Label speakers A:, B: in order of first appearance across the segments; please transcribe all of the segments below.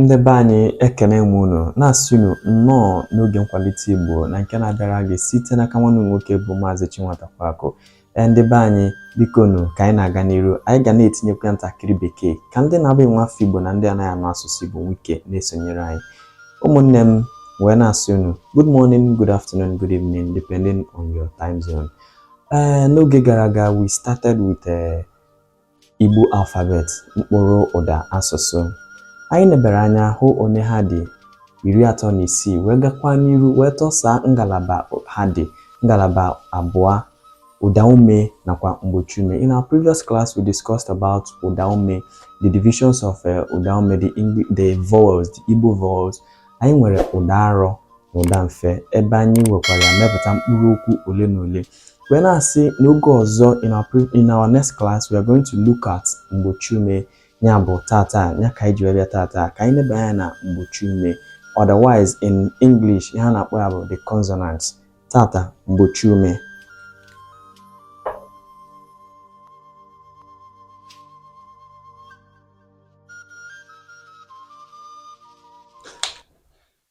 A: Ndị be anyị ekene m unu na-asị unu nnọọ n'oge nkwalite Igbo na nke na-abịara gị site n'aka nwanne nwoke bụ Maazị Chinwata Kwaku. Ee, ndị be anyị bikonu ka anyị na-aga n'iru anyị ga na-etinyekwa ntakịrị bekee ka ndị na-abụ nwa afọ Igbo na ndị anaghị anụ asụsụ Igbo nwee ike na-esonyere anyị. Ụmụnne m wee na-asị unu good morning, good afternoon, good evening depending on your time zone. Ee, n'oge gara aga we started with a eh, Igbo alphabet, mkpụrụ ụda asụsụ. Anyị nebara anya hụ one ha dị iri atọ na isii wee gakwa n'iru wee tọsaa ngalaba ha dị ngalaba abụọ ụdaume nakwa mgbochiume. In our previous class we discussed about ụdaume, the divisions of uh, ụdaume, the, English, the vowels, the Igbo vowels. Anyị nwere ụda arọ na ụda mfe ebe anyị wekwara mepụta mkpụrụ okwu ole na ole. wee na-asị n'oge ọzọ in our, pre- in our next class we are going to look at mgbochi ume ya bụ tata ya ka anyị ji wee bịa tata ka anyị leba anya na mgbochi ume otherwise in English ihe a na-akpọ ya bụ the consonants tata mgbochi ume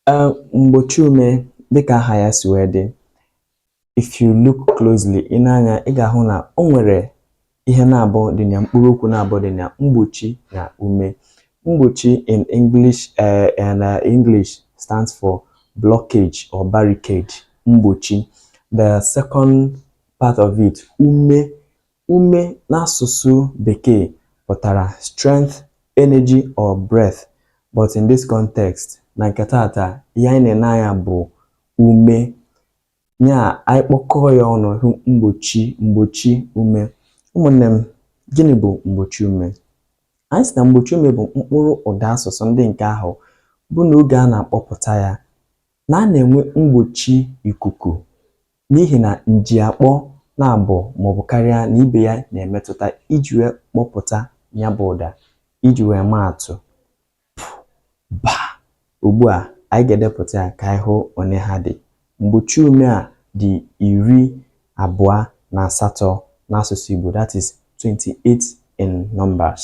A: Ee, mgbochi ume dịka aha ya si wee dị If you look closely, i nee anya ị ga-ahụ na o nwere ihe naabọ dị na ya mkpụrụ okwu naabọ dị na mgbochi na ume. Mgbochi in English uh, and, uh, English stands for blockage or barricade. Mgbochi. The second part of it, ume. Ume n'asụsụ Bekee pụtara strength, energy or breath. But in this context, na nke taata, ihe anyị na-ene anya bụ ume nya anyị kpọkọọ ya ọnụ hụ mgbochi mgbochi ume ụmụnne m gịnị bụ mgbochi ume anyị sị na mgbochi ume bụ mkpụrụ ụda asụsụ ndị nke ahụ bụ na oge a na-akpọpụta ya na a na-enwe mgbochi ikuku n'ihi na njiakpọ naabọ maọbụ karịa na ibe ya na-emetụta iji wee kpọpụta nya bụ ụda iji wee maa atụ ba ugbu a anyị ga-edepụta ya ka anyị hụ one ha dị mgbochi ume a dị iri abụọ na asatọ n'asụsụ Igbo that is 28 in numbers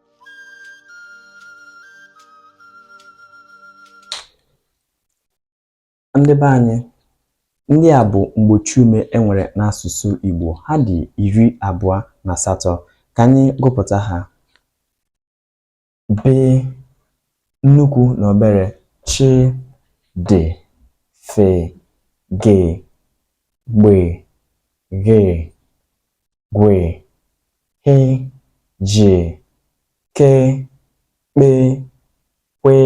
A: ndị be anyị ndị a bụ mgbochi ume e nwere n'asụsụ Igbo ha dị iri abụọ na asatọ ka anyị gụpụta ha be nnukwu na obere chi dị fe gị gbe ghe gwe he je ke kpe kwe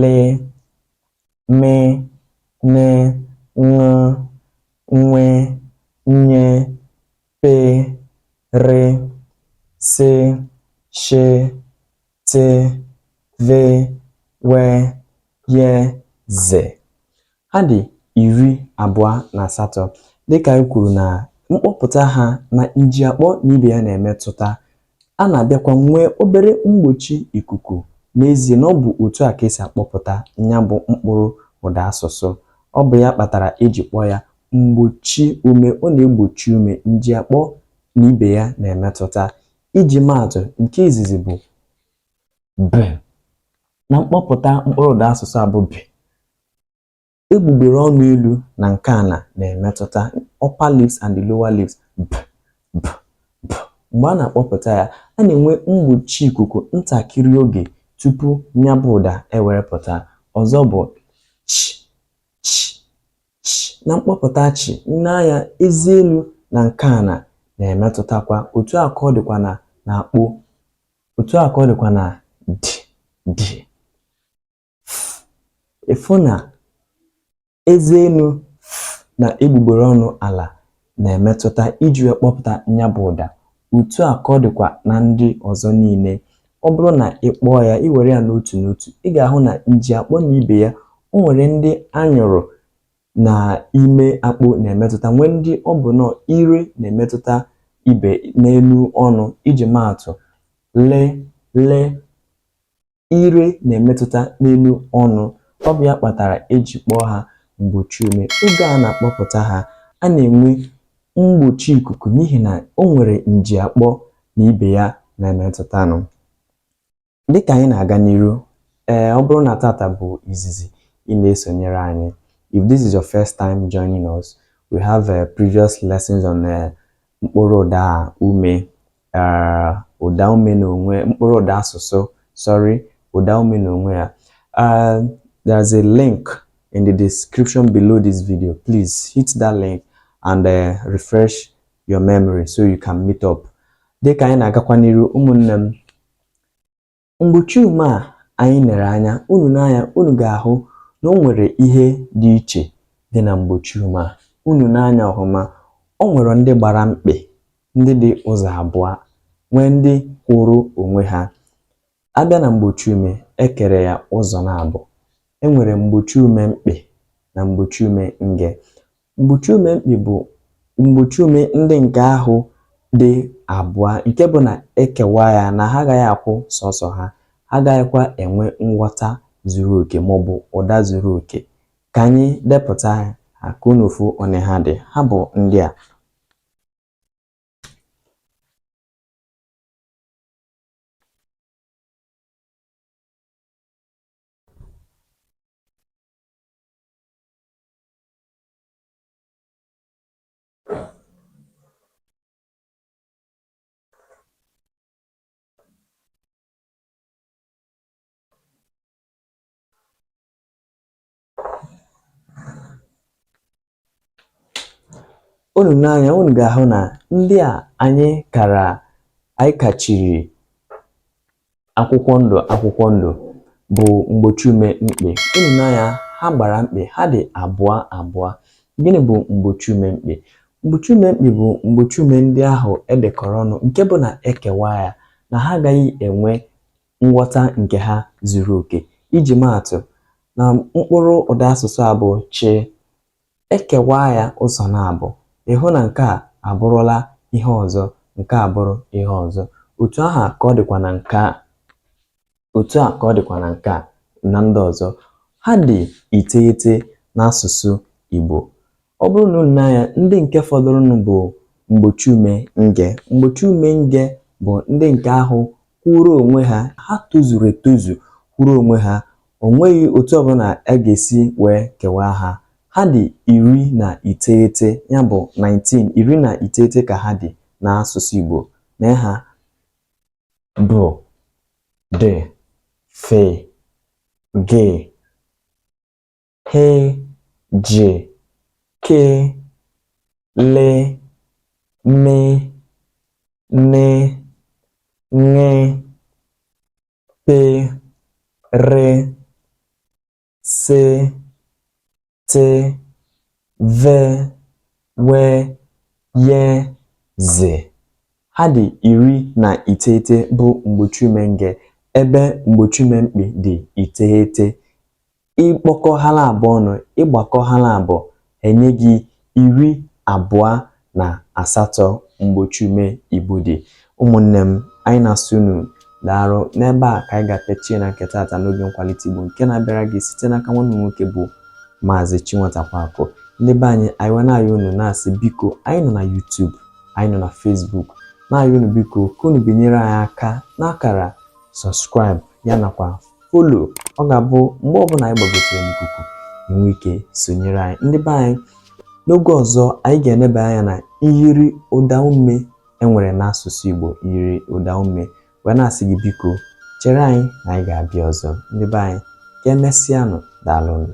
A: le me ne ṅụ nwe nye pe re se she te, ve, we, ye, ze. Ha dị iri abụọ na asatọ. Dịka anyị kwuru na mkpọpụta ha na njiakpọ na ibe ya na-emetụta, a na-abịakwa nwee obere mgbochi ikuku n'ezie na ọ bụ otu a ka e si akpọpụta ya bụ mkpụrụ ụda asụsụ. Ọ bụ ya kpatara e ji kpọọ ya mgbochi ume. Ọ na-egbochi ume njiakpọ na ibe ya na-emetụta. Iji maatụ, nke izizi bụ b na mkpọpụta mkpụrụ ụda asụsụ a bụ b. Egbugbere ọnụ elu na nke ana na-emetụta upper lips and the lower lips b b b. Mgbe a na-akpọpụta ya, a na-enwe mgbochi ikuku ntakịrị oge tupu ya bụ ụda ewere pụta. Ọzọ bụ ch ch ch na mkpọpụta chi nee anya eze elu na nke ana na-emetụtakwa otu a ka ọ dịkwa na n'akpo otu a ka ọ dịkwa na dị dị ị fụ na eze elu na egbugbere ọnụ ala na-emetụta iji wee kpọpụta ya bụ ụda otu a ka ọ dịkwa na ndị ọzọ niile ọ bụrụ na ị kpọọ ya i were ya n'otu n'otu ị ga-ahụ na nji akpọ na ibe ya o nwere ndị anyụrụ na ime akpo na-emetụta nwee ndị ọ bụ nnọọ ire na-emetụta ibe n'elu ọnụ iji maatụ le le ire na-emetụta n'elu ọnụ ọ bụ ya kpatara e ji kpọọ ha mgbochi ume oge a na-akpọpụta ha a na-enwe mgbochi ikuku n'ihi na o nwere nji akpọ na ibe ya na-emetụtanụ dịka anyị na-aga n'iru ee ọ bụrụ na tata bụ izizi ị na-esonyere anyị if this is your first time joining us we have uh, previous lessons on uh, mkpụrụ ụda ume uh, ụda ume n'onwe mkpụrụ ụda asụsụ sorry ụda ume n'onwe ya uh, there's a link in the description below this video please hit that link and uh, refresh your memory so you can meet up dịka anyị na-agakwa n'iru ụmụnne m Mgbochi ume a anyị nere anya, unu nee anya unu ga-ahụ na o nwere ihe dị iche dị na mgbochi ume a. Unu nee anya ọhụma, o nwere ndị gbara mkpị, ndị dị ụzọ abụọ, nwee ndị kwụrụ onwe ha. A bịa na mgbochi ume, e kere ya ụzọ naabọ. E nwere mgbochi ume mkpị na mgbochi ume nge. Mgbochi ume mkpị bụ mgbochi ume ndị nke ahụ dị abụọ nke bụ na e kewaa ya na ha agaghị akwụ sọsọ ha, ha agaghịkwa enwe nghọta zuru oke maọbụ ụda zuru oke. Ka anyị depụta ha ka unu fụ one ha dị. Ha bụ ndị a. unu nee anya unu ga-ahụ na ndị a anyị kara anyị kachiri akwụkwọ ndụ akwụkwọ ndụ bụ mgbochi ume mkpị unu nee anya ha gbara mkpị ha dị abụọ abụọ gịnị bụ mgbochi ume mkpị mgbochi ume mkpị bụ mgbochi ume ndị ahụ e dekọrọ ọnụ nke bụ na e kewaa ya na ha agaghị enwe nghọta nke ha zuru oke iji maatụ na mkpụrụ ụda asụsụ a bụ chi E kewaa ya ụzọ naabọ, ị hụ na nke a abụrụla ihe ọzọ, nke a abụrụ ihe ọzọ. Otu ahụ ka ọ dịkwa na nke a. Otu a ka ọ dịkwa na nke a na ndị ọzọ. Ha dị iteghete n'asụsụ Igbo. Ọ bụrụ na unu nee anya, ndị nke fọdụrụnụ bụ mgbochiume nge. Mgbochiume nge bụ ndị nke ahụ kwụụrụ onwe ha, ha tozuru etozu kwụrụ onwe ha O nweghị otu ọbụla a ga-esi wee kewaa ha. Ha dị iri na iteghete, ya bụ 19, iri na iteghete ka ha dị n'asụsụ Igbo. Nee ha: be, de, fe, ge, he, je, ke, le, me, ne, ṅe, pe, re, se, te, ve, we, ye, ze. Ha dị iri na iteghete bụ mgbochiume nge ebe mgbochiume mkpị dị iteghete. ịkpọkọ ha abụọ ọnụ ịgbakọ ha abụọ enye gị iri abụọ na asatọ mgbochi ume Igbo dị ụmụnne m anyị na-asị unu daalụ n'ebe a ka anyị ga-apịachie na nke taata n'oge nkwalite Igbo nke na-abịara gị site n'aka nwanne m nwoke bụ maazị Chinweta Nwankwo ndị be anyị anyị wee na-ayọ unu na-asị biko anyị nọ na YouTube anyị nọ na Facebook na-ayọ unu biko ka unu binyere anyị aka n'akara subscribe ya nakwa follow ọ ga-abụ mgbe ọbụla anyị gbagotere n'ikuku i nwee ike sonyere anyị ndị be anyị n'oge ọzọ anyị ga-eneba anya na myiri ụda ume e nwere n'asụsụ Igbo myiri ụda ume wee na-asị gị biko chere anyị na anyị ga-abịa ọzọ ndị be anyị ka emesịanụ daalụnụ